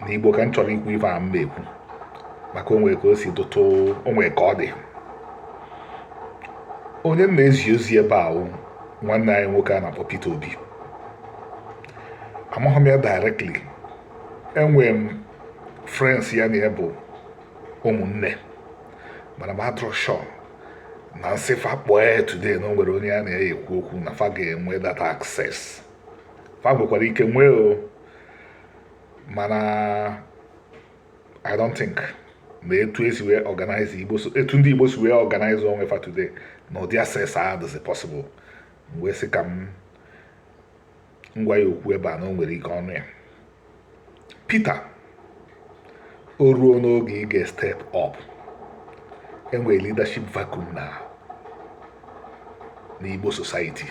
na igbo ka m chọrọ ikwu ife a m ma-ekwu maka o nwe ka o si dịtụ o nwe ka ọ dị onye m na-ezi ozi ebe a wụ nwanne anyị nwoke a na-akpọ Peter Obi amaghị m ya directly enwere m friends ya na ya bụ ụmụnne mana m adịrọ sure na m sị fa kpọọ ya today na o nwere onye a na-eyi ekwu okwu na fa ga-enwe that access fa nwekwara ike nwee o mana I don't think na etu esi wee organize Igbo etu ndị Igbo si wee organize onwe fa today na ụdị access a dịzi possible m wee sị ka m gwa ya okwu ebe a na o nwere ike ọ nụ ya Peter o ruona oge ị ga-step up enwere leadership vacuum na n'Igbo society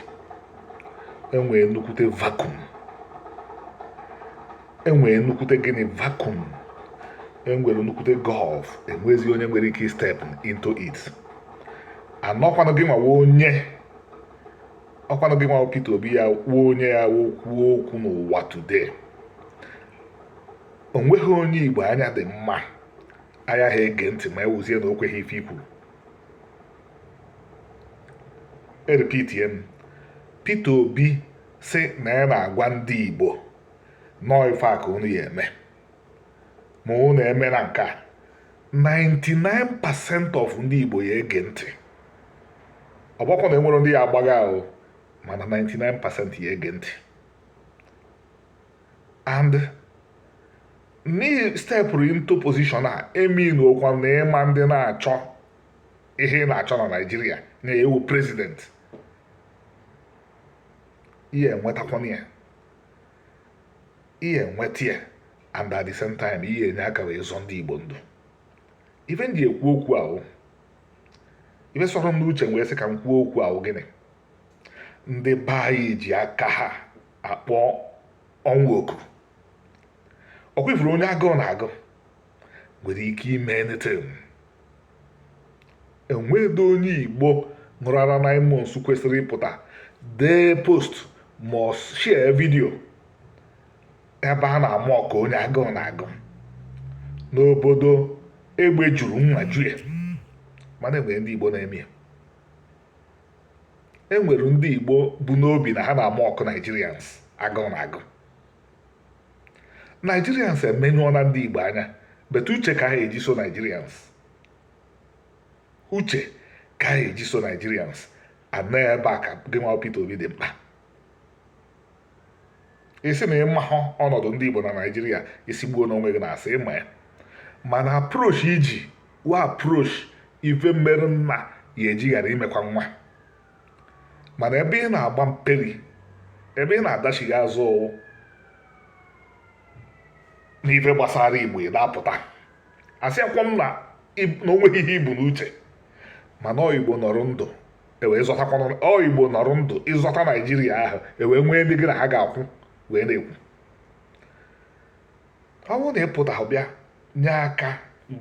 enwere nnukwute vacuum enwere nnukwute gịnị vacuum enwere nnukwute gulf enwezi onye nwere ike step into it and ọ kwanụ gị nwa wụ onye ọ kwanụ gị nwa wụ Peter Obi ya kwuo onye ya kwuo okwu n'ụwa today onweghị onye Igbo anya dị mma ayaha ege ntị ma ewuzie na o kweghị ife i kwuru erepeatie m Peter Obi sị na ya na-agwa ndị Igbo na ọ ife a ka unu ya eme ma unu emena nke a 99% of ndị Igbo ya ege ntị ọ gbakwa na enwere ndị ya agbagha o mana 99% ya ege ntị and na ị stepụrụ into position a emeanọkwa na ịma ndị na-achọ ihe ị na-achọ na Nigeria n'ịwụ president ị ya enwetakwanụ ya ị ya enweta ya and at the same time ị ya enye aka wee zọ ndị igbo ndụ ife m ji ekwu okwu a wụ ife sọrọ m n'uche wee sị ka m kwuo okwu a wụ gịnị ndị be anyị ji aka ha akpọ ọnwụ oku ọ kwa ị fụrụ onye agụụ na-agụ nwere ike ime anything enweghị onye igbo ṅụrụ ara nine months kwesịrị ịpụta dee post ma ọ share video ebe a na-amock onye agụụ na-agụ n'obodo egbe juru nwa jue mana enwere ndị igbo na-eme ya e nwere ndị Igbo bu n'obi na ha na-amock Nigerians agụụ na-agụ Nigerians emenyụọla ndị Igbo anya but uche ka ha eji so Nigerians uche ka ha eji so Nigerians and ebe a ka gị nwa Peter Obi dị mkpa ị sị na ị mahụ ọnọdụ ndị Igbo na Naịjirịa ị sịgbuonụ onwe gị n'asị ị ma ya mana approach i ji wa approach ife merụ nna ya e ji ghara imekwa nwa mana ebe ị na-agba mperi ebe ị na-adachigha azụ n'ife gbasara Igbo ị na-apụta asịakwọ m na o nweghị ihe i bu n'uche mana ọ Igbo nọrọ ndụ e wee zọtakwanụ ọ Igbo nọrọ ndụ ị zọta Naijiria ahụ e wee nwee ndị gị na ha ga-akwụ wee na-ekwu ọ bụrụ na ị pụta bịa nye aka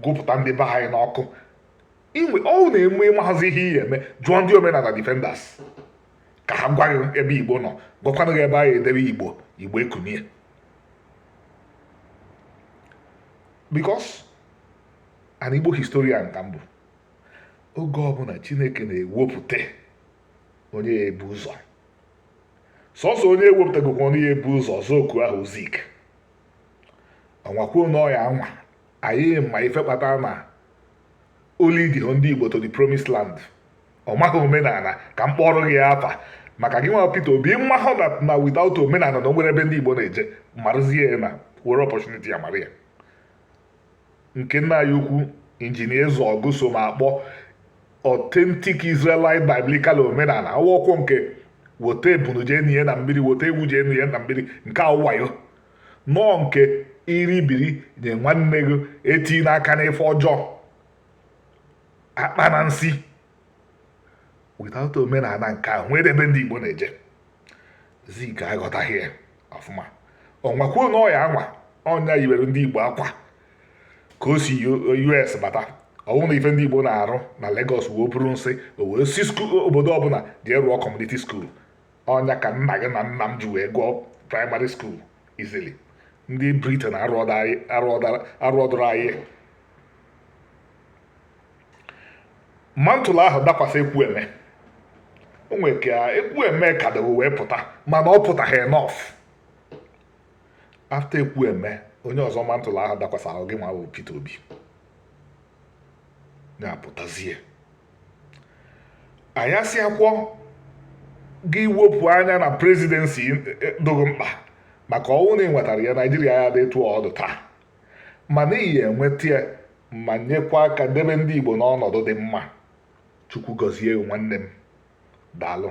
gụpụta ndị be anyị n'ọkụ inwe ọ wụ na-enwe ị mahazị ihe ị ya-eme jụọ ndị Omenana Defenders ka ha gwa gị ebe Igbo nọ gwakwanụ gị ebe anyị edebe Igbo Igbo ekunie because an Igbo historian ka m bụ oge ọbụna Chineke na-ewepụta onye ya-ebu ụzọ sọsọ onye ewepụtagokwa onye ya-ebu ụzọ ọzọ oku ahụ Zik ọ nwakwuo na ọ ya-anwa anyị ma ife kpata na o leadihọ ndị Igbo to the promised land ọ maghị omenana ka m kpọrọ gị afa maka gị nwa Peter Obi mmahụ na without omenana na o nwere ebe ndị Igbo na-eje marụzie na were opportunity a mara ya nke nna anyị ukwu injinia Ezeọgụ so m akpọ authentic Israelite biblical omenana ọ wọkwọ nke weta ebunu jee nie na mmiri weta ewu jee nie na mmiri nke a wụ wayo no nke i ribiri nye nwanne gị etina aka n'ife ọjọọ akpana nsị without omenana nke a nwere ebe ndị Igbo na-eje Zik aghọtaghị ya ọfụma ọ nwakwuo na ọ ya-anwa ọ nya yiwere ndị Igbo akwa ka o si US bata ọ fụ na ife ndị Igbo na-arụ na Lagos wụ iburu nsị o wee sị obodo ọbụna jee rụọ community school ọ nya ka nna gị na nna m ji wee gụọ primary school easily ndị Britain arụọdụrụ anyị mantle ahụ dakwasị Ekwueme o nwere ka Ekwueme kwadoro wee pụta mana ọ pụtaghị enough after Ekwueme onye ọzọ mantle ahụ dakwasị wụ gị nwa bụ Peter Obi na-apụtazie anyị asịakwọ gị wepụ anya na presidency e, e, dogo mkpa maka ọ wụ na ị nwetara ya Naijiria ya-adị etu ọ dụ taa mana ị ya-enweta ya ma nyekwa aka debe ndị Igbo n'ọnọdụ dị mma Chukwu gọzie gị nwanne m daalụ